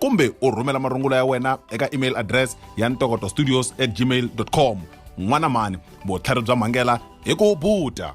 kumbe u rhumela marungula ya wena eka email address ya ntokoto studios at gmail com n'wana mani vutlhari bya mhangela hi ku buta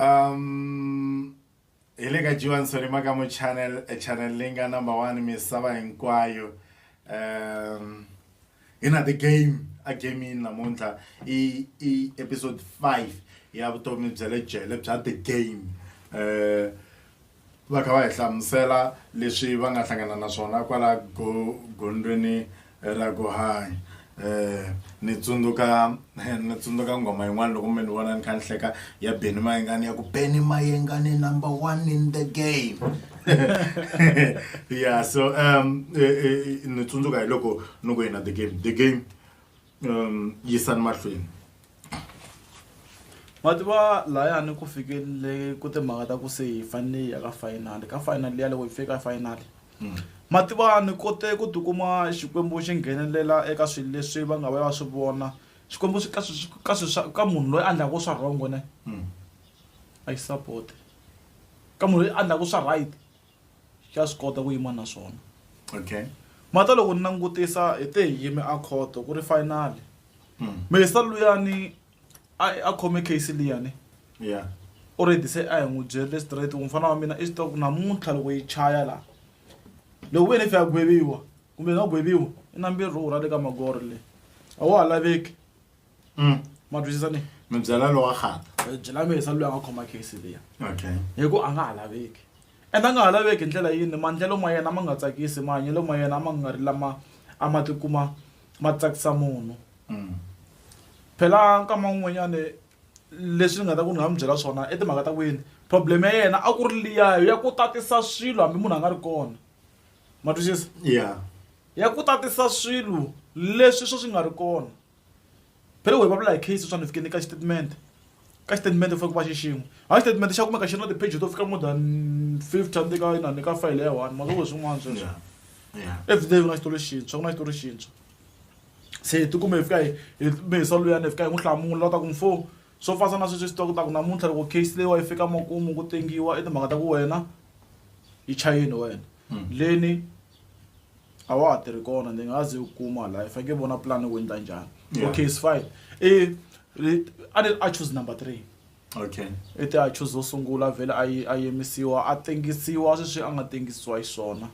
um hi le ka jiwani solima ka mu channel eh, channel leyi nga number one misava hinkwayo um hi na the game a gamini namuntlha i i episode five ya vutomi bya le jele bya the game um Va kha va hi hlamusela leswi va nga hlangana na swona kwala go, gondzweni ra ku hanya. Eh, ni tsundzuka ni tsundzuka nghoma yin'wana loko mi ni vona ni kha ni hleka ya Benny Mayengani ya ku Benny Mayengani number one in the game. yeah so um ni tsundzuka hi loko ni ku yena the game the game. um yisani mahlweni ma tiva layani ku fikele ku timhaka ta ku se hi fanele hi ya ka fayinali ka fayinali ya loko hi fike ka fayinali hmm. ma tiva ni kote ku tikuma xikwembu xi nghenelela eka swilo leswi va nga va va swi vona xikwembu swi ka swi ka swi swa ka munhu loyi a ndlaku swa wrong ne hmm. a yi support ka munhu loyi a ndlaku swa right xa swi kota ku yima na swona okay mata loko ni langutisa hi te hi yime a khoto ku ri finally mm. mesa luyani a a khome case liyani yeah already se a hi n'wi byerile straight ku mfana wa mina i swi ku namuntlha loko yi chaya laha loko wena if ya gweviwa kumbe nga gweviwa i na mbirhi rhurha le ka magoro le a wa ha laveki Mm. ma twisisa ni mi byela lowa khata Eh, byela mesa loyi a nga khoma case leya okay hi ku a nga ha laveki and a nga ha laveki hi ndlela yini maendlelo ma yena ma nga tsakisi mahanyelo ma yena ma nga ri lama a ma tikuma ma tsakisa munhu Mm. phela nkama wun'wanyani leswi ni nga ta ku ni nga mi byela swona i timhaka ta ku yini problem ya yena a ku ri liyayo ya ku tatisa swilo hambi munhu a nga ri kona ma twisisa yeah ya ku tatisa swilo leswi swo swi nga ri kona Betway va vula hi case sweswiwani hi fike ni ka xitatimende ka xitatimende ku fanele ku va xixin'we hayi xitatimende xa kumeka xi ri na ti-page to fika more than fifty a ni ka inani ka fayele ya one mavoko hi swin'wana sweswo everyday ku na xitori xintshwa ku na xitori xintshwa se hi tikume hi fika hi hi me hi swa luyani hi fika hi n'wi hlamula u ta ku mfo swo fana na sweswi hi swi tiva ku ta ku namuntlha loko case leyiwa yi fika makumu ku tengiwa i timhaka ta ku wena i chayini wena. leni a wa ha tirhi kona ndzi nga ze u kuma la i faneke vona plan u endla njhani okay is fine i a ni a choose number three okay i ti a choose wo sungula vhele a yi a yimisiwa a tengisiwa sweswi a nga tengisiwa hi swona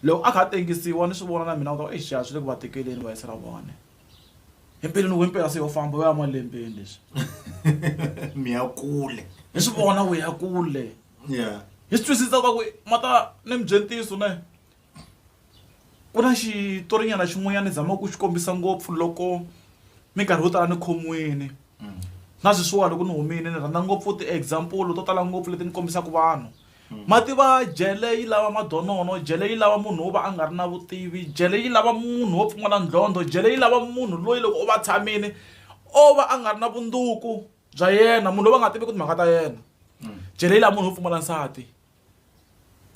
loko a kha a tengisiwa ni swi vona na mina ka exiya swi le ku va tekeleni va yisa ra vona empeleni wo impela se yo famba u ya malembeni leswi mi ya kule hi swi vona u ya kule yeah hi swi twisisa swa ku ma ta ni mi byela ntiyiso ne ku na xitorinyana xin'wanyana ni zama ku xi kombisa ngopfu loko minkarhi yo tala ni khomiwini na sweswiwa loko ni humile ni rhandza ngopfu ti-example to tala ngopfu leti ni kombisaka vanhu ma tiva jele yi lava madonono jele yi lava munhu wo va a nga ri na vutivi jele yi lava munhu wo pfumala ndlondho jele yi lava munhu loyi loko u va tshamile o va a nga ri na vunduku bya yena munhu loyi va nga tivi ku timhaka ta yena mm. jele yi lava munhu wo pfumala nsati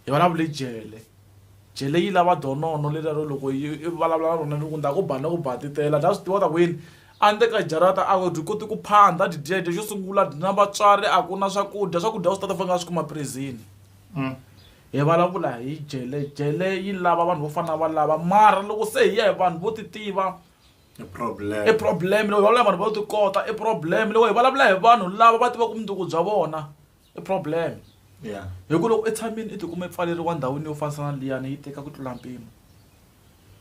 hi vulavule jele jele yi lava donono lelero loko yi vulavula na rona ni ku nda ku bana ku batitela dya swi tiva ta ku yini a ni teka jarata a dyi koti ku phanda dyi dyedya xo sungula dyi na vatswari a ku na swakudya swakudya swi tata fana nga swi kuma prizini mm. hi vulavula hi jele jele yi lava vanhu vo fana va lava mara loko se hi ya hi vanhu vo ti tiva i problem i problem loko vulavula vanhu vo ti kota i problem loko hi vulavula hi vanhu lava va tivaka vumundzuku bya vona i problem yeah hi ku loko etshamini i tikuma i pfaleriwa ndhawini yo fanisa na liyani yi teka ku tlula mpimo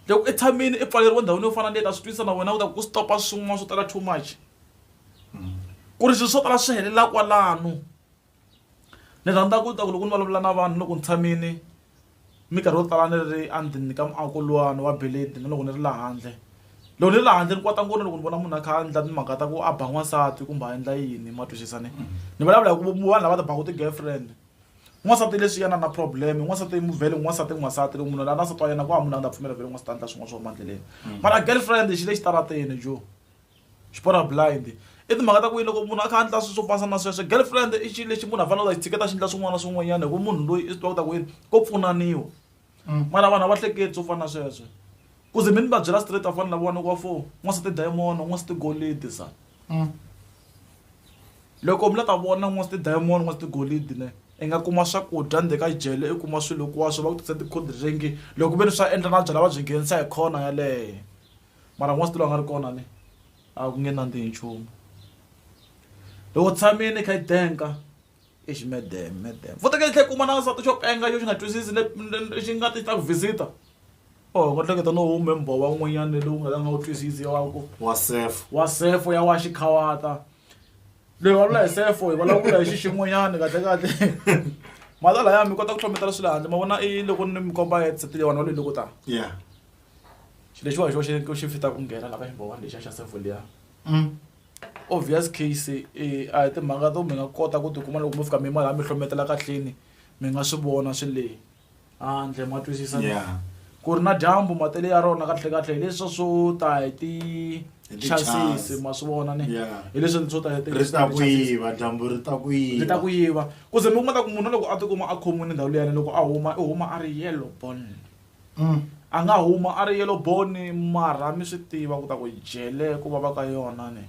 loko etshamini i pfaleriwa ndhawini yo fana na liyani a swi twisa na wena u ta ku stopa swin'wana swo tala too much mm. ku ri swilo swo tala swi helela kwalano Ni rhandza ku ta ku loko ni vulavula na vanhu loko ni tshamile minkarhi yo tala ni ri endzeni ka muako lowani wa beleni na loko ni ri laha handle loko ni ri laha handle ni kota ngopfu na loko ni vona munhu a kha a endla timhaka ta ku a ba n'wansati kumbe a endla yini ma twisisa ne ni vulavula hi ku vanhu lava ti baka ti girlfriend n'wansati leswi yena na problem n'wansati muvhele n'wansati n'wansati loko munhu la na nsati wa yena ku hava munhu la nga ta pfumela vhele n'wansati a endla swin'wana swo huma endleleni mara girlfriend xi le xitarateni joh. Xipora blind i timhaka ta ku yi loko munhu a kha a ndla swilo swo fana na sweswo girlfriend i xilo lexi munhu a fanele a xi tshiketa xi endla swin'wana na swin'wanyana hi ku munhu loyi i swi tiva ku ta ku yini ko pfunaniwa mara vanhu a va hleketi swo fana na sweswo ku ze mi ni va byela straight a fana na lavawani wa four n'wansati diamond n'wansati golidi se loko mi la ta vona n'wansati diamond n'wansati golidi ne i nga kuma swakudya ndzeni ka jele i kuma swilo hinkwaswo va ku tisela ti-cold drink loko ve ni swa endla na byalwa va byi nghenisa hi corner yaleyo. mara n'wansati loyi a nga ri kona ne a ku nge nandzihi nchumu loko tshamile yi kha yi tenga exi madam madam futhi ka yi tlhe kuma na nsati xo penga xo xi nga twisisi lexi nga ti ta ku visit-a or u nga hleketa no hume mbhova wun'wanyana lowu nga ta nga wu twisisi wa ku wa sefo wa sefo ya wa xikhawata loyi wa lula hi sefo hi vulavula hi xixin'wanyana kahle kahle mhata laya mi kota ku hlometela swi le handle ma vona i loko ni mi komba ya tsatile vanhu va loko ta ya xilo lexiwani xo xi ku xi fita ku nghena la ka ximbo one lexiya xa sevo liya obvious case eh, a hi timhaka to mi nga kota ku tikuma loko mi fika mi malaha mi hlometela kahleni mi nga swi vona swi le handle ma twisisa na? Yeah. ku ri na dyambu matele ya rona kahle kahle hi leswa swo ta hi Hi ti-chance. tichasisi ma swi vona ni Yeah. hi leswi swo ta hi ti- ri ta ku ti-chances. yiva dyambu ri ta ku yiva ri ta ku yiva ku ze mi kuma ta ku munhu loko a tikuma a khomile ndhawu liyani loko a huma i huma a ri yellow bone Anga huma ari yellow bone mara mi swi tiva ku ta ku jele ku vava ka yona ne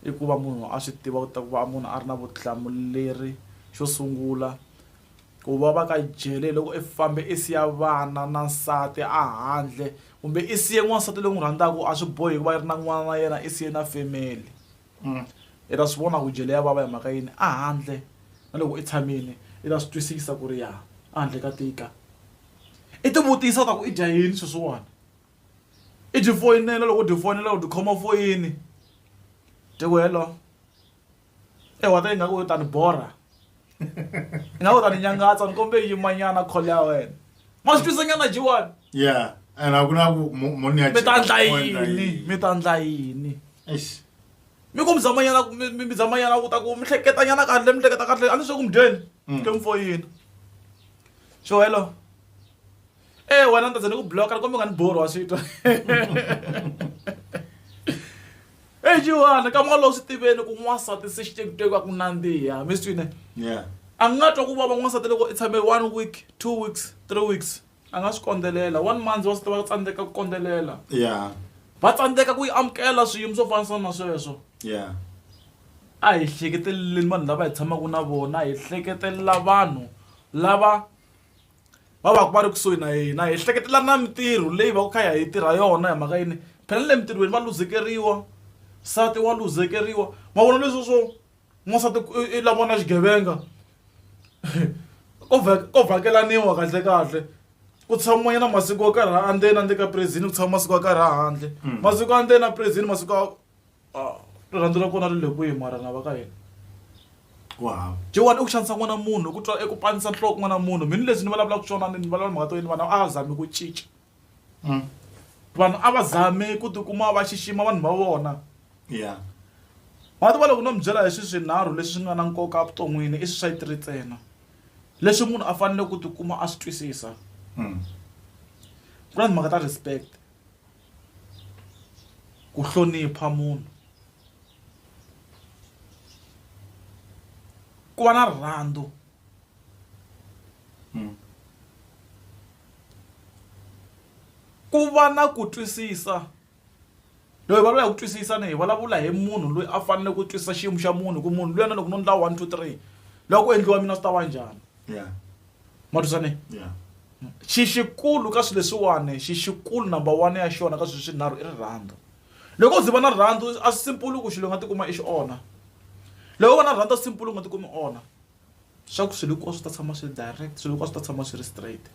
i ku va munhu a swi tiva ku ta ku va munhu a ri na vutihlamuleri xo sungula ku vava ka jele hi loko i fambe i siya vana na nsati a handle kumbe i siye n'wansati loyi n'wi rhandzaka a swi bohi ku va i ri na n'wana na yena i siye na family. I ta swi vona ku jele ya vava hi mhaka yini a handle na loko i tshamile i ta swi twisisa ku ri ya a handle ka tika i ti vutisa u ta ku i dya yini sweswiwani i byi foyinela loko u byi foyinela u byi khoma foyini dye ku hello ehwata ingaku yo tani borha. na u ta ni nyangatsa ni kombe yimanyana khole ya wena ma swi twisa nyana jiwani yeah and a ku na ku mo- mo ni ya mi ta ndla cheka, mo endla yini yini. mi ta ndla yini Eish. mi ku mi zamanyana mi mi- mi zamanyana ku ta ku mi hleketa nyana kahle mi hleketa kahle a ni swe ku mi dyeni ke mfoyini xo hello e wena ni ta za ni ku bloka loko mi nga ni borhi wa swi twa eyi jiwana ka malowu swi tiveni ku n'wansati se xi tekuteki va ku nandziha mi swi twine a nga twa ku vava n'wansati loko i tshame one week two weeks three weeks a nga swi kondzelela one month wa swi tiva va tsandzeka ku kondzelela va tsandzeka ku yi amukela swiyimo swo fanisa na sweswo a hi hleketeleleni vanhu lava hi tshamaka na vona hi hleketelela vanhu lava va va ku va ri kusuhi na hina hi hleketela na mintirho leyi va ku kha ya hi tirha yona hi mhaka yini phela na le mintirhweni va luzekeriwa nsati wa luzekeriwa ma vona leswi swo n'wansati i lava na xigevenga ko ko vhakelaniwa kahle kahle ku tshamiwa nyana masiku yo karhi a ndzeni a ndzeni ka present ku tshama masiku yo karhi a handle masiku ya ndzeni a present masiku ya. ah, rirhandzu ra kona ri le kwihi mara na va ka hina ku hava jewani i ku xanisa n'wana munhu i ku twa i ku panisa nhloko n'wana munhu mhini leswi ni vulavulaka swona ni vulavula mhaka to yini vanhu a va zami ku cinca mm. vanhu a va zami ku tikuma va xixima vanhu va vona ya mati va loko no mi byela hi swi swinharhu leswi swi nga na nkoka evuton'wini i swi swa yi tiri ntsena leswi munhu a fanele ku tikuma a swi twisisa mm. ku na timhaka ta respect ku hlonipha munhu ku va na rirhandzu hmm. ku va na ku twisisa loyi va lava ku twisisa ni hi vulavula hi munhu loyi a fanele ku twisisa xiyimo xa munhu ku munhu luyana loko no ndla one two three loko ku endliwa mina swi ta va njhani matusane yeah. xixikulu ka swilo leswiwani xixikulu number one ya xona ka swilo swinharhu i rirhandzu loko u ziva na rirhandzu a swi simpulu ku xilo nga tikuma i xi onha loko u va na rirhandzu a swi simpulu u nga tikumi onha swa ku swilo hinkwaswo swi ta tshama swi ri direct swilo hinkwaswo swi ta tshama swi ri straight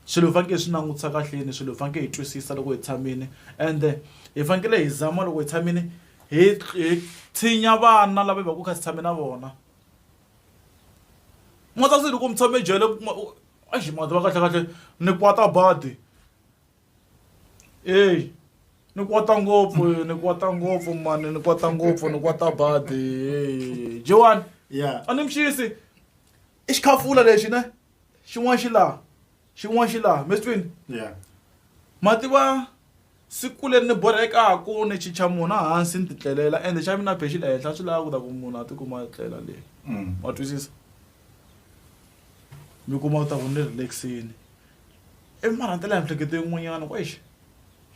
swilo hi fanekele hi swi langutisa kahleni swilo hi fanekele hi twisisa loko hi tshamile ende hi fanekele hi zama loko hi tshamile hi hi tshinya vana lava hi va ku kha si tshame na vona N'wana sasisi loko mi tshame jele exi mhani tiva kahle kahle ni kwata badi eyi ni kwata ngopfu ni kwata ngopfu mani ni kwata ngopfu ni kwata badi eyi Jewani Yeah. a ni mixisi i xikhafula lexi ne xin'wana xi laha Xin'wana xi laha, mi swi twile? Yeah. Ma tiva siku leri ni borhekaku ni chicha mona hansi ni titlelela ende xa mina phe xi le henhla swi lava ku ta ku munhu a tikuma a tlela le mm. wa twisisa mi kuma ku ta ku ni relaxini i marhantela ya miehleketo yin'wanyana ku exi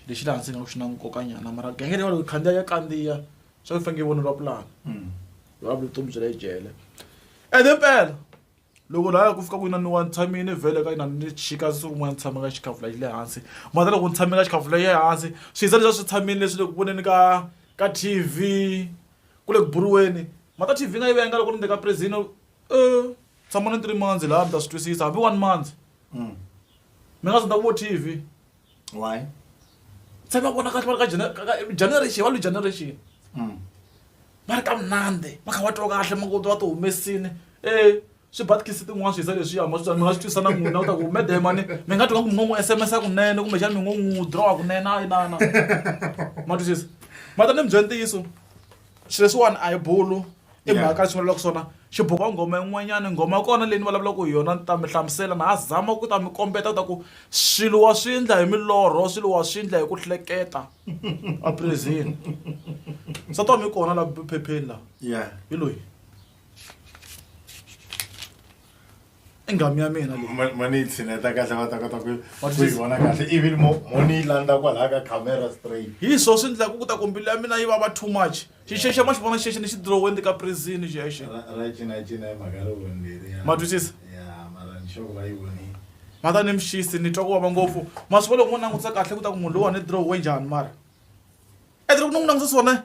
lexi laha ndzi nga ku xi na nkokanyana mara genge leyi waloko khandziya ya kandziya swa ku faneke voneriwa pulani va mm. vutomi byi le jele ende mpela loko laya ku fika ku inana wa ni tshamini vhele ka inana ni xika siku rin'wana ni tshame ka xikhavula xi le hansi mhaka loko ni tshame ka xikhavula ya hansi swi za leswi a swi tshamini leswi le ku voneni ka ka T_V ku le ku buriweni mhaka T_V ni nga yi venga loko ni le ka prison tshama na three months laya mi ta swi twisisa hambi one months mi nga zanga vo T_V. why se va vona kahle va ri ka jena- ka- ka- generation va lu generation Mm. va ri kamnandi va kha va twa kahle makuti va ti humesini e swibatkisi tin'wana swi hisa leswiya ma swi mi nga swi twisa na n'wina u ta ku mede mani mi nga twa nga ku mi ngo n'wi sms a kunene kumbexani mi ngo n'wi drawa kunene a yi nana ma twisisa ma ta ni mi byela ntiyiso xilo leswiwani a hi bulu i Yeah. mhaka lexi vulavulaka swona xiboka nghoma yin'wanyana nghoma ya kona leyi ni vulavulaka hi yona ni ta mi hlamusela na ha zama ku ta mi kombeta ta ku swilo wa swi endla hi milorho swilo wa swi endla hi ku hleketa aprezini nsati wa mi kona la phepheni la ya hi loyi i ngamu ya mina leyi ma ni yi tshineta kahle va ta kota ku What is ku yi this? vona kahle ivi mo mo ni yi landza kwalaha ka camera straight hi swo swi endlaka ku ta ku mbilu ya mina yi vava too much xixexe ma xi vona xexi ni xi dirowendi ka prizini xexi ra ra cinacina hi mhaka ri vonile ya Ma twisisa? ya mara ni xoko va yi vonile ma ta ni mixisi ni twa ku vava ngopfu ma swi vona loko mo langutisa kahle ku ta ku munhu lowa ni dirowe njhani mara endle ku ni n'wi langutisa swona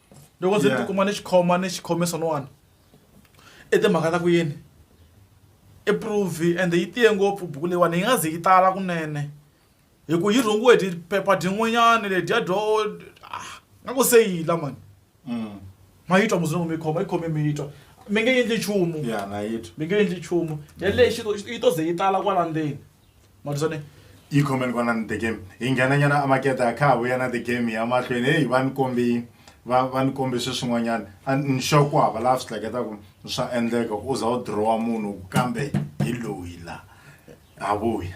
loko ndzi ti kuma ni xikhoma ni xikhome swin'wana i timhaka ta ku yini i prove ende yi tiye ngopfu buku leyiwani yi nga ze yi tala kunene hi ku yi rhungiwe hi phepha dyin'wanyana ledya dyo ah, nga ku se yi la mani mm. ma yi twa muzungu mi khoma yi khome mi yi twa mi nge endli nchumu mi nge endli nchumu yaleyo yi to ze yi tala kwala ndzeni matisone yi khomeni kona ni the game hi nghenanyana a makete a kha ha vuya na the game ya mahlweni heyi va ni kombi va va ni kombi swi swin'wanyana a ni sure ku hava laha swi hleketaku swa endleka ku u za u dirowa munhu kambe hi loyi la ha vuya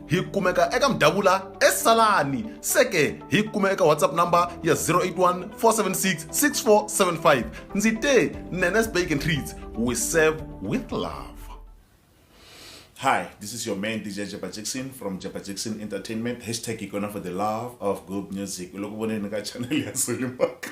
hi kumeka eka mudavula esalani seke hi kume eka whatsapp number ya 081 476 6475 ndzi te nenes bacon treats we serve with love Hi, this is your man DJ Jabba Jackson from Jabba Jackson Entertainment. Hashtag Ikona for the love of good music. Ulokuboneni ka channel ya Sulimaka.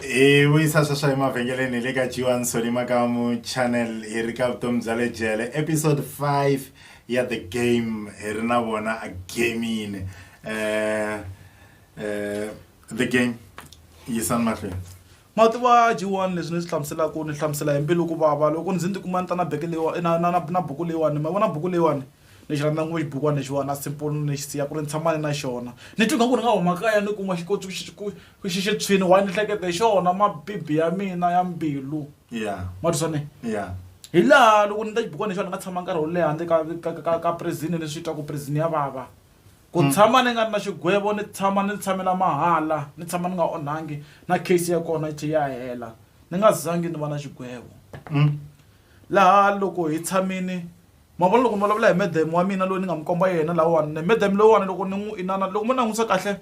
hi vuyisa sweswo emavhengeleni le ka jiwani soni makamu channel hi ri ka vutomi bya le jele episode 5 ya the game hi ri na vona agamini um eh, um eh, the game yisani mahlweni ma tiva jiwani leswi ni swi hlamuselaka ni hlamusela hi mbilu ku vava loko ndzi ndzi kuma ni ta na beke leyiwani na na na buku leyiwani ma vona buku leyiwani ni xi rhandza ngopfu xibukwana lexiwani na simple ni ni xi siya ku ri ni tshama ni na xona ni twi nga ku ni nga huma kaya ni kuma xi koti ku xi ku ku xi xi tshwini why ni hleketa hi xona mabibi ya mina ya mbilu yeah ma twi swona yeah hi laha loko ni ta xibukwana lexiwani ni nga tshama nkarhi wo leha handle ka ka ka ka ka prison ni swi twa ku prison ya vava ku tshama ni nga ri na xigwevo ni tshama ni tshamela mahala ni tshama ni nga onhangi na case ya kona yi tlhe ya hela ni nga zangi ni va na xigwevo laha loko hi tshamini ma vona loko mi vulavula hi madam wa mina loyi ni nga mi komba yena lawani ne madam loyiwani loko ni n'wi inana loko mo langutisa kahle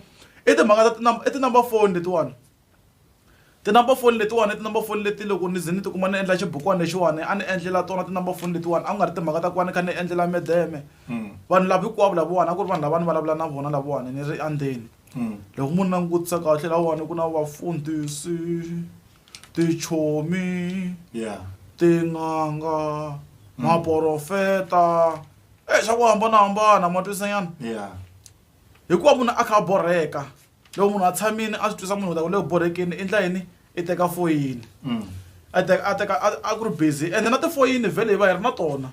i timhaka ta i ti-number phone letiwani ti-number phone letiwani i ti-number phone leti loko ni ze ni tikuma ni endla xibukwana lexiwani a ni endlela tona ti-number phone letiwani a ku nga ri timhaka ta ku va ni kha ni endlela madame vanhu lava hinkwavo lavawani a ku ri vanhu lava ni vulavula na vona lavawani ni ri endzeni loko mo ni langutisa kahle lawani ku na vafundhisi tichomi yeah tin'anga mm. maporofeta e eh, xa ku hambanahambana ma twisanyana yeah hikuva munhu a kha a borheka loko munhu a tshamini a swi twisa munhu ta ku le borhekeni i ndla yini i teka foyini mm. a teka a teka a ku ri busy ende na tifoyini vhele hi va hi ri na tona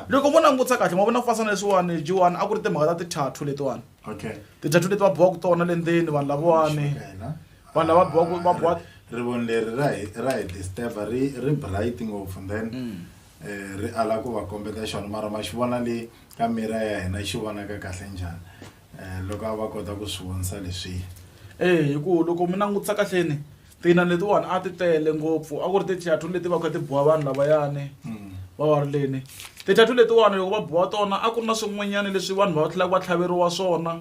loko mo langutisa kahle ma vona kufasana leswiwani jiwani a ku ri timhaka ta ti-tatto letiwani ti-tatto leti va biwaka tona le ndzeni vanhu lavawani vanhu lava biwaka va biwa rivoni leri ra hi ra hi disturba ri ri bright ngopfu then eh, ri ala ku va kombeta xona mara ma xi vona le ka mira ya hina xi vonaka kahle njhani Eh, loko a va kota ku swi vonisa leswiya Eh, hi ku loko mi langutisa kahleni tina letiwani a ti tele ngopfu a ku ri tithathu leti va kha ti biwa vanhu lavayani va wa ri leni tithathu letiwani loko va biwa tona a ku ri na swin'wanyana leswi vanhu va tlhelaka va tlhaveriwa swona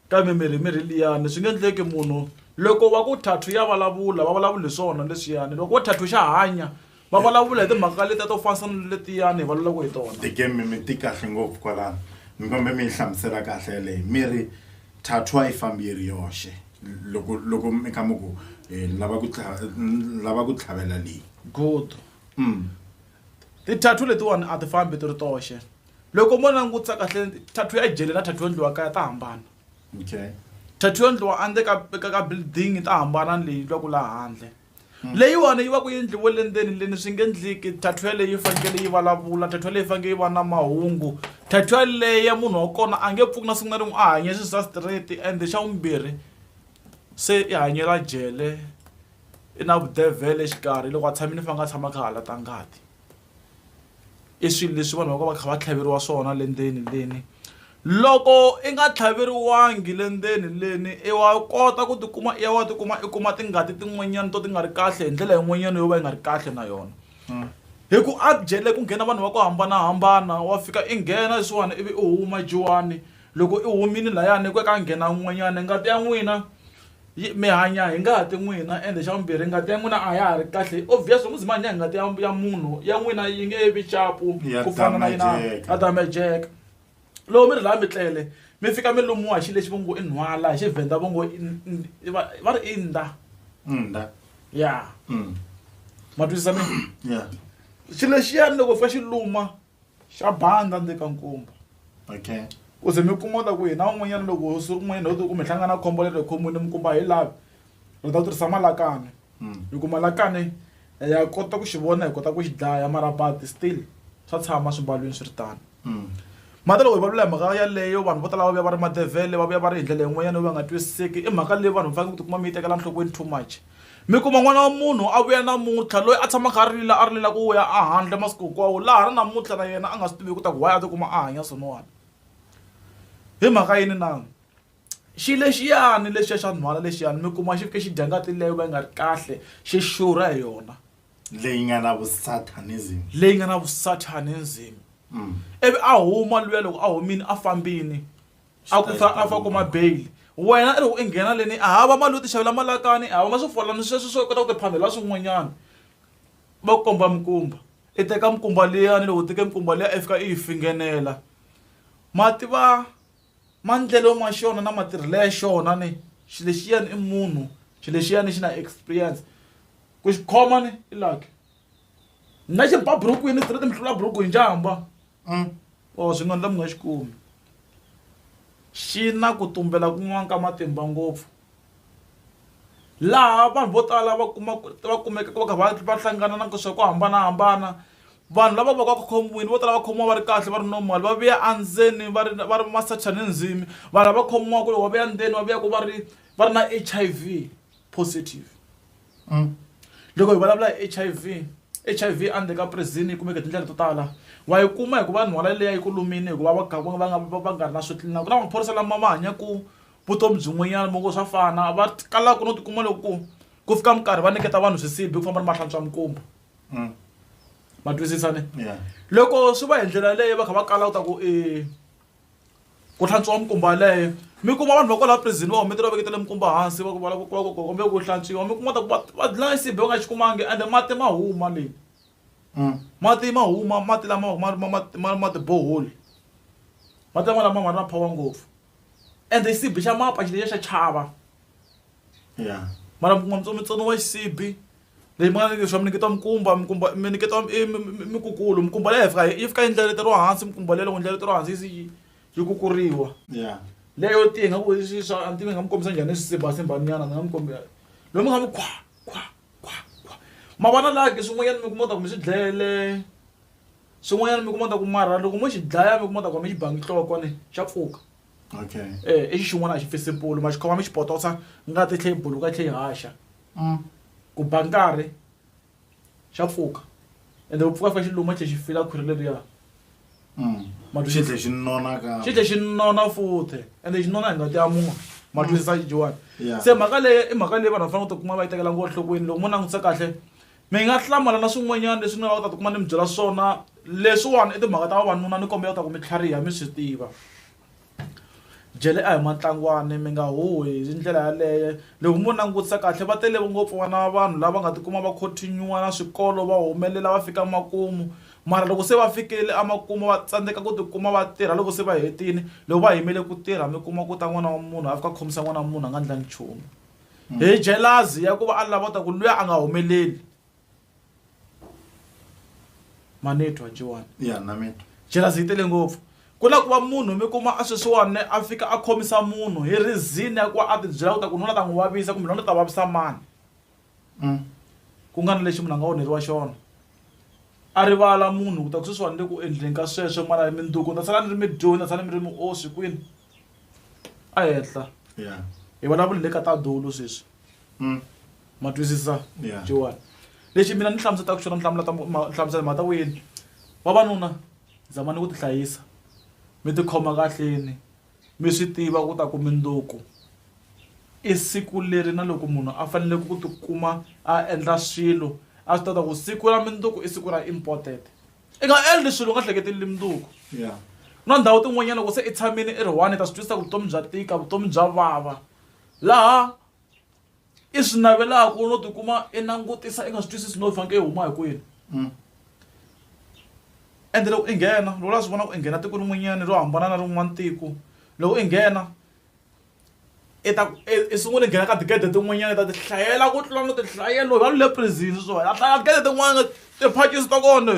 Kambe mirhi mirhi liyani swi nge endleki munhu loko wa ku thathu ya vulavula va vulavula hi swona leswiyani loko wo thathu xa hanya va vulavula hi timhaka letiya to fanisa na letiyani hi vulavulaka hi tona Tekeni mi mi ti kahle ngopfu kwalano mi kombe mi yi hlamusela kahle yeleyo mi ri thathu a yi fambi yi ri yoxe loko loko mi kha mi ku eh, ni lava ku tlha- ni lava ku tlhavela leyi good Mm. ti-tattoo letiwani a ti fambi ti ri toxe Loko mo langutisa kahle tattoo ya jele na tattoo yo endliwa kaya ta hambana. Okay. Tattoo yo endliwa a ndzeni ka ka ka building ta hambana ni leyi endliwaka laha handle. Leyiwani yi va ku yi endliwe le ndzeni le ni swi nge endleki tattoo yaleyo yi fanekele yi vulavula, tattoo yaleyo yi fanekele yi va na mahungu. Tattoo yaleyo munhu wa kona a nge pfuki na siku na rin'we a hanye swi swa straight and xa vumbirhi se i hanyela jele i na vudevhele exikarhi loko a tshamile i fanele a tshama a kha a halata ngati. i swilo leswi vanhu va va va kha va tlhaveriwa swona le ndzeni leni loko i nga tlhaveriwangi le ndzeni leni i wa kota ku tikuma i ya wa tikuma i kuma tingati tin'wanyana to ti nga ri kahle hi ndlela yin'wanyana yo va yi nga ri kahle na yona hmm. hi ku a jele ku nghena vanhu va ku hambanahambana wa fika i nghena leswiwani ivi i huma jiwani loko i humile layani ku ka nghena n'wanyana ngati ya n'wina mi hanya hi ngati n'wina ende xa vumbirhi ngati ya n'wina a ya ha ri kahle obvious loko mi hanya hi ngati ya ya munhu ya n'wina yi nge vi chapu ku fana na yina ya damejeka loko mi ri laha mi tlele mi fika mi lumiwa hi xi lexi va ngo i nhwala hi xivhenda va ngo va ri i nda nda ya mm. ma twisisa mi ya xi lexiyani loko fika xi luma xa banda ni le ka nkumba okay ku ze mi kuma ta ku hina un'wanyana loko siku rin'wanyana ho ku mi hlangana khombo leri khomweni mi kumba hi lavi ri ta tirhisa malakane hmm. hi ku malakane eh, ya kota ku xi vona hi kota ku xi dlaya mara but still swa tshama swimbalwini swi ri tano hmm. mati loko hi valula hi mhaka yaleyo vanhu vo tala va vuya va ri madevhele va vuya va ri hi ndlela yin'wanyana yo va nga twisiseki i mhaka leyi vanhu va faneke ku tikuma mi yi tekela nhlokweni too much mi kuma n'wana wa munhu a vuya namuntlha loyi a tshama a kha a rila a rilela ku ya a handle masiku hinkwawo laha ri namuntlha na yena a nga swi tivi ku ta ku why a tikuma a hanya swin'wana hi mhaka yini na xi lexiyani lexiya xa nhwana lexiyani mi kuma xi fike xi dya ngati leyo va yi nga ri kahle xi xurha hi yona leyi nga na vusatanism leyi nga na vusatanism mm. ivi a huma luya loko a humile a fambini a ku fa a fa kuma bail wena i ri i nghena leni a hava mali yo ti xavela malakani a hava ma swifolani sweswi swo kota ku ti phamela swin'wanyana va ku komba mikumba i teka mikumba liyani loko u teke mikumba liya i fika i yi fingenela ma tiva maendlelo ma xona na matirhelo ya xona ni xilo lexiyani i munhu xilo lexiyani xi na experience ku xi khoma ni i lucky na xiba burukwini straight mi hlula buruku hi njhamba. Mm. Or swi nga ndla mi nga xi kumi. Xi na ku tumbela kun'wana ka matimba ngopfu laha vanhu vo tala va kuma va kumekaka va kha va va hlangana na swa ku hambanahambana vanhu lava va ka khombiwile vo tala va khomiwa va ri kahle va ri normal va vuya endzeni va ri va ri masocha ni ndzimi vanhu lava khomiwaka loko va vuya ndzeni va vuya ku va ri va ri na H_I_V positive. Loko hi vulavula hi H_I_V, H_I_V a ndzeni ka prison yi kumeka hi tindlela to tala wa yi kuma hi ku va nhwala leyi a yi ku lumile hikuva va kha va nga va va nga ri na swo clean-a ku na maphorisa lama ma hanyaka vutomi byin'wanyana mo ka swa fana va kalaka no tikuma loko ku ku fika minkarhi va nyiketa vanhu swisibi ku famba ni mahlantswa mikumba ma twisisa ne loko swi va hi ndlela yaleyo va kha va kala u ta ku i. Ku hlantswiwa minkumba yaleyo mi kuma vanhu va kwala prison va humetela va veketele minkumba hansi va ku va lava ku kombela ku hlantswiwa mi kuma ta ku va va dlaya nsipho va nga xi kumangi ende mati ma huma le mati ma huma mati lama ma ma ma ma ma ti-borehole mati lama lama ma ri na power ngopfu ende xisibi xa mapa xi lexi xa chava mara mi kuma mi tsoniwa xisibi. leyi mi nga ni leswa mi niketa mikumba mikumba mi niketa mikukulu mikumba leyi fika yi fika yi ndleleta ro hansi mikumba leyi loko ndleleta ro hansi yi yi kukuriwa ya leyo tiya nga ku swi swa a ntivi nga mi kombisa njhani swisimbasimbaniyana ni nga mi kombela loyi mi nga mi khwa khwa khwa khwa ma vona la ke swin'wanyana mi kuma ta ku mi swi dlayele swin'wanyana mi kuma ta ku mara loko mo xi dlaya mi kuma ta ku mi xi bangi nhloko ne xa pfuka okay e i xin'wana a xi pfise mpolo ma xi khoma mi xi potosa ngati tlhe yi buluka tlhe yi haxa M, Ku ba nkarhi, xa pfuka ende ku pfuka fika xi luma xi tlhe xi fila khwiri leriya. M, Ma twisisa? Xi tlhe xi nona kambe. Xi tlhe xi nona futhe ende xi nona hi ngati ya munhu. Ma twisisa Joan? Yeah. Se mhaka leyi i mhaka leyi vanhu va fanele ku ti kuma va yi tekela ngo enhlokweni. Loko mo langutisa kahle mi nga hlamala na swin'wanyana leswi ni nga ta ti kuma ni mi byela swona. Leswiwani i timhaka ta vavanuna ni kombela ku ta ku mi tlhariha mi swi tiva. Jele a hi matlangwani mi nga huhi hi ndlela yaleyo loko mo langutisa kahle va tele ngopfu vana va vanhu lava nga tikuma va khotheniwa na swikolo va humelela va fika makumu mara loko se va fikile emakumu va tsandzeka ku tikuma va tirha loko se va hetile loko va yimele ku tirha mi kuma ku ta n'wana wa munhu a fika a khomisa n'wana wa munhu a nga ndlangi nchumu hi jealous ya ku va a lava ku ta ku luya a nga humeleli. manetwa jiwani ya na mina jealousy yi tele ngopfu ku na ku va munhu mi kuma a sweswiwani a fika a khomisa munhu hi reason ya ku va a ti byela ku ta ku nuna ta n'wi vavisa kumbe nuna ta vavisa mani Mm. ku nga na lexi munhu a nga onheriwa xona a rivala munhu ku ta ku sweswiwani le ku endleni ka sweswo n'wana ya mindzuku ni ta sala ni ri mi dyohi ni ta sala mi ri mi oswi kwini a henhla ya hi vulavula le ka tadulu sweswi Mm. ma twisisa Yeah. jiwani lexi mina ni hlamusetaka xona ni hlamula ta mu- ma- ni hlamusela mhaka ta wini vavanuna zamani ku tihlayisa mi tikhoma kahleni mi swi tiva ku ta ku mindzuku i siku leri na loko munhu a fanele ku tikuma a endla swilo a swi ta ta ku siku ra mindzuku i siku ra important i nga endli swilo u nga hleketeli mindzuku Yeah. na ndhawu tin'wanyana loko se i tshamile i ri one i ta swi twisisa ku vutomi bya tika vutomi bya vava laha i swi navelaka no tikuma i langutisa i nga swi twisisi no faneke i huma hi kwini mm. ende loko i nghena loko la swi vona ku i nghena tiko rin'wanyana ro hambana na rin'wana tiko loko i nghena i ta i sungule nghena ka tigede tin'wanyana ta tihlayela ku tlula no tihlayela loyi va lu le prison swona a hlaya tigede tin'wana tiphakisi ta kona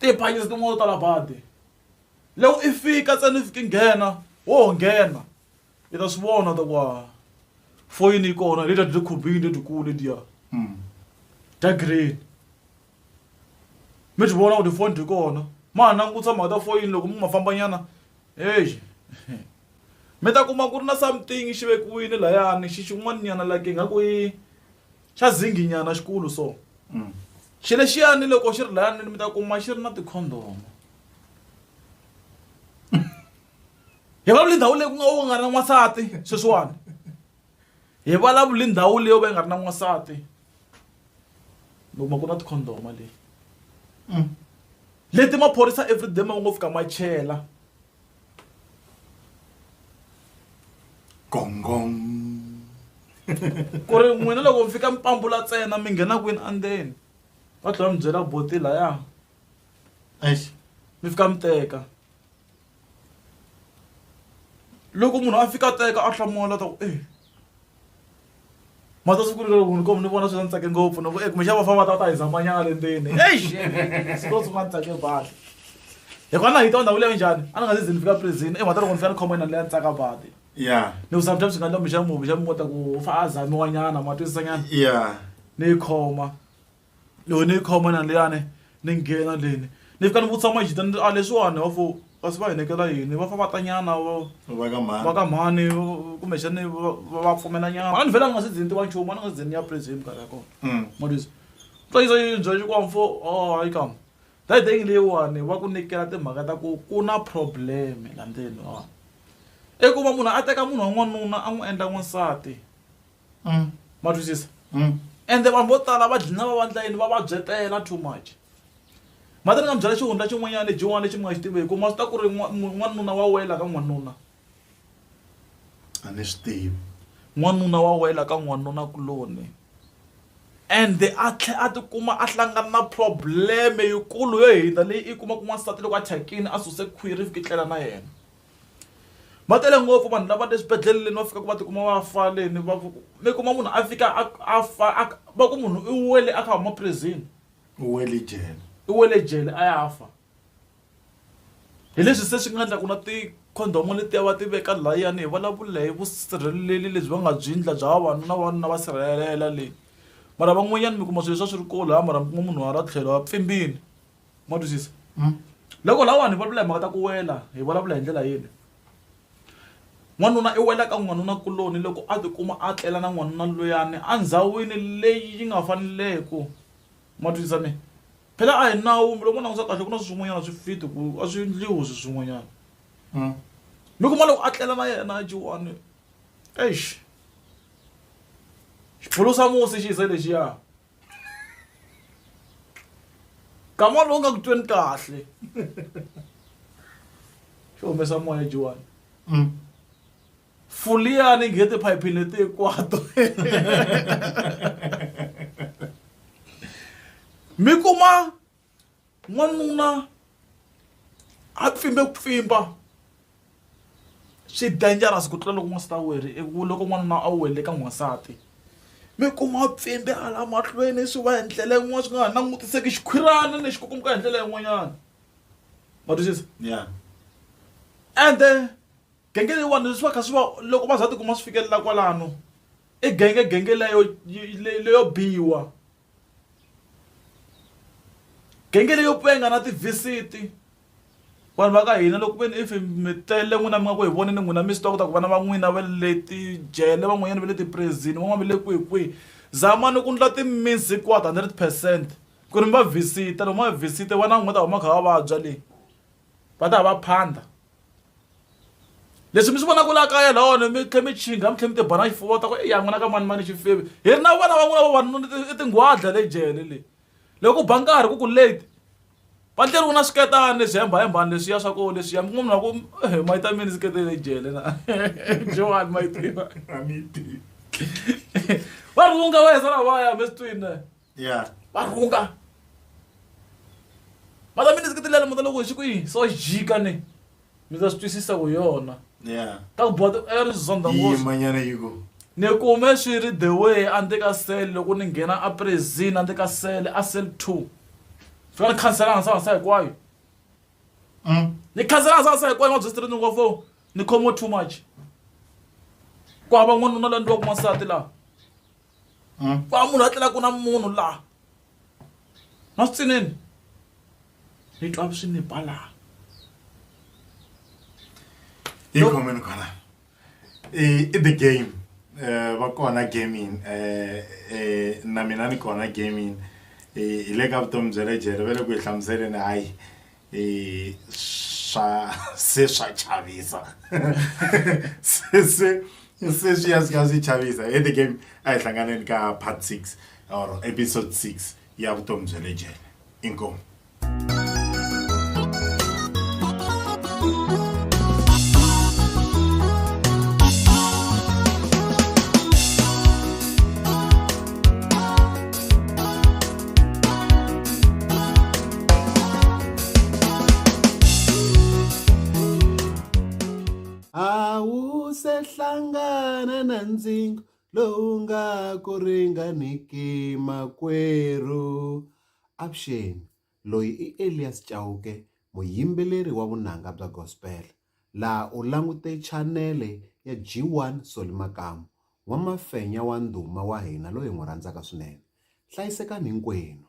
tiphakisi tin'wana to tala badi loko i fika tsena i fike nghena wo nghena Let us warn other wa foyini kona leta di khobini leti kule dia. Mm. Da green. Mi ti vona ku ti phone di kona. Ma nangutsa ma ta foyini loko mi ma famba nyana. Hey. Mi ta kuma ku ri na something xi vekiwini layani xi xin'wana nyana la ke nga ku yi xa zingi nyana xikulu so. Mm. Xi lexiyani loko xi ri layani mi ta kuma xi ri na ti condom. hi vulavula ndhawu leyi ku nga u nga ri na n'wansati sweswiwani hi vulavula ndhawu leyi yo va yi nga ri na n'wansati mi kuma ku na tikhondoma leyi mm. leti maphorisa everyday ma ngo fika ma chela gongong ku ri n'wina loko mi fika mi pambula ntsena mi nghena kwini andzeni va tlhela mi byela boti laya mi fika mi teka loko munhu a fika a teka a hlamula ta ku e ma ta siku leri munhu komu ni vona swi ni tsake ngopfu ni ku e kumbexana va famba va ta ta hi zamanyana le ndzeni eish siku ro sungula ni tsake badi hikuva na hita wa ndhawu leyo njhani a ni nga se ze ni fika prison emhata loko ni fika ni khoma yina leya ni tsaka badi ya ni ku sometimes swi nga endla kumbexana munhu kumbexana mi kota ku fa a zamiwanyana ma twisisanyana ya ni yi khoma yo ni yi khoma na liyani ni nghena leni ni fika ni vutisa majita ni a leswiwani wa fo kasi va hi nekela yini va fa va ta nyana va ka mhani va ka mhani kumbexani va pfumela nyana a ni vhela ni nga se ze ni tiva nchumu a ni nga se ze ni ya praise hi minkarhi ya kona mm. matisa twa yisa yi byela xikwambo fo o oh, hayi kama that day leyiwani va ku nyikela timhaka ta ku ku na problem la ndzeni wa i ku va munhu a teka munhu wa n'wanuna a n'wi endla n'wansati ma twisisa ende vanhu vo tala va dlina va vandla yini va vabyetela too much ma ta ni nga mi byela xihundla xin'wanyana lebyin'wana lexi mi nga xi tivi hi ku ma swi ta ku ri n'wanuna wa wela ka n'wanuna a ni swi tivi n'wanuna wa wela ka n'wanuna kuloni ende a tlhela a tikuma a hlangana na problem yikulu yo hundza leyi i kuma ku n'wansati loko a thyakile a suse khwiri ivi ku tlela na yena. va tele ngopfu vanhu lava le swibedhleleni va fikaka va tikuma va faleni va mi kuma munhu a fika a fa a va ku munhu i wele a kha huma prison u wele jele i wele jele a ya fa hi leswi se swi nga endla ku na tikhondomo letiya va ti veka layani hi vulavula hi vusirheleleli lebyi va nga byi endla bya vavanuna vavanuna va sirhelela le mara van'wanyana mi kuma swilo leswi a swi ri kolo ha mara mi kuma munhu a ra tlhelo a pfimbile. ma twisisa hmm. loko lawani hi vulavula hi mhaka ta ku wela hi vulavula hi ndlela yini n'wanuna i wela ka n'wanuna kuloni loko a tikuma a tlela na n'wanuna loyani endhawini leyi yi nga faneleke ma twisisa mina phela a hi nawu loko ma langusa kahle ku na swin'wanyana swi fiti ku a swi endliwi swi swin'wanyana hmm. mi kuma loko a tlela na yena jiwani eish xiphulusa musi xi ze lexiya kama lowu nga ku tweni kahle xo humesa moya jiwani mm. fuliyani nghe tiphayiphi leti hinkwato mi kuma n'wanuna a pfimbe ku pfimba swi dangerous ku tlula loko n'wansati a wele loko n'wanuna a wele ka n'wansati mi kuma pfimbe hala mahlweni swi va hi ndlela yin'wana swi nga ha langutiseki xikhwirana lexi ku kumeka hi ndlela yin'wanyana ma twisisa ya ende genge leyiwani leswi va kha swi va loko va za tikuma swi fikelela kwalano i genge genge leyo leyo biwa. genge leyo penga na tivisiti vanhu va ka hina loko veni if mi tele n'wina mi nga ku hi voneni n'wina mi swi tiva ku ta ku vana va n'wina va le tijele van'wanyana va le tiprezini van'wana va le kwihikwihi zamani ku ndla ti-means hinkwato hundred percent ku ri mi va visit-a loko mi va visit-e vana va n'wina va ta huma va kha va vabya le. va ta va phanda leswi mi swi vonaka la kaya lawona mi tlhe mi chinga mi tlhe mi tibana xifuva ta ku eya n'wina ka mani mani xifevi hi ri na vana va n'wina vavanuna i tinghwadla le jele leyi loko ku ba nkarhi ku ku late va tleriwe na swiketani leswi hembahembani leswiya swa ku leswiya mi n'wanuna ku he mayi ta mini sikete le jele na jewani mayi tiva va rhunga va hesa lavaya mi swi twini ya va rhunga mara mi ni ndzi kitilela muta loko hi xi ku yini so jika ni mi ta swi twisisa ku yona ya ta ku bodo a ri zonda yi ngopfu manyana yi ku ni kume swi ri the way a ndzi ka sele loko ni nghena a prison a ndzi ka sele a sele two fika ni khansela hansa hansa hinkwayo Mm. ni khansela hansa hansa hinkwayo ni va byesitiri ni ngo fo ni khomiwe too much ku hava n'wanuna la ndliwaku n'wansati laha mm. va munhu a tlela ku na munhu laha na swi tsinini ni twa swi ni ba laha hi khomeni khona i the game eh, va kona gaming um eh, eh, na mina ni kona gaming hi le ka vutomi bya le jele va le ku hi hlamuseleni hayi e swa se swa chavisa se se se swi ya swi ka swi chavisa e the game a hi hlanganeni ka part 6 or episode 6 ya vutomi bya le jele inkomu a wu se hlangana na ndzingo lowu nga ku ringaniki makwerhu avuxeni loyi i elias chauke muyimbeleri wa vunanga bya gospel Laha u langute chanele ya G1 Solly Makamu, n'wamafenya wa ndhuma wa hina loyi hi n'wi rhandzaka swinene. Hlayisekani hinkwenu!